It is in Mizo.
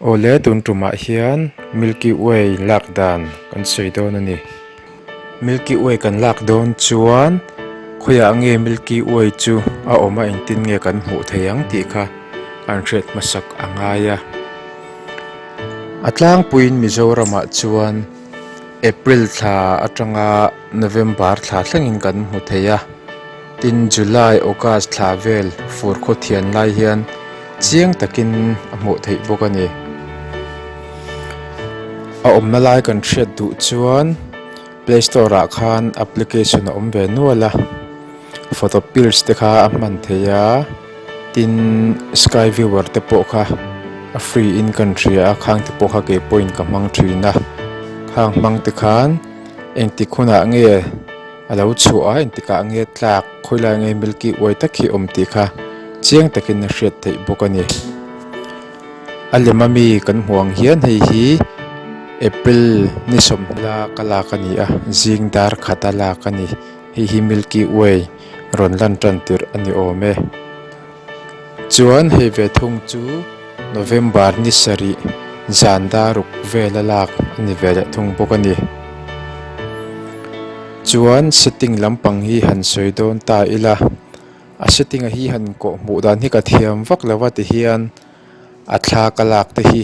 Awle tun tumah hian milky way lak dan kan sawi dawn a ni milky way kan lak dawn chuan khawiah nge milky way chu a awm a engtin nge kan hmuh theih ang tih kha an hriat hmasak a ngai a a tlangpuiin mizoramah chuan-- April thla atanga November thla thlengin kan hmu thei a, tin July, August thla vel fur khaw thian lai hian chiang takin a hmuh theih bawk a ni. A awmna lai kan hriat duh chuan Play Store ah khan application a awm ve nual a, Photopills te kha a hman thei a. Tin, Sky Viewer te pawh kha a free in kan hria a, khang te pawh kha kei pawhin ka hmang thin a, khang hmang te khan engtik hunah nge a lo chhuah a, engtik ah nge tlak khawi lai nge Milky Way tak hi a awm tih kha chiang takin a hriat theih bawk a ni. A lem a mi kan hmuh ang hian hei hi April ni sawmhla ka lak a ni a, zing dar khat a lak a ni. Hei hi Milky Way rawn lan tan tirh a ni awm e. Chuan hei ve thung chu November ni sarih zan daruk vel a lak a ni ve leh thung bawk a ni. Chuan setting lampang hi han sawi dawn ta ila, a setting a hi han inkoh hmuh dan hi ka thiam vak lo a tihian a thla ka lak te hi.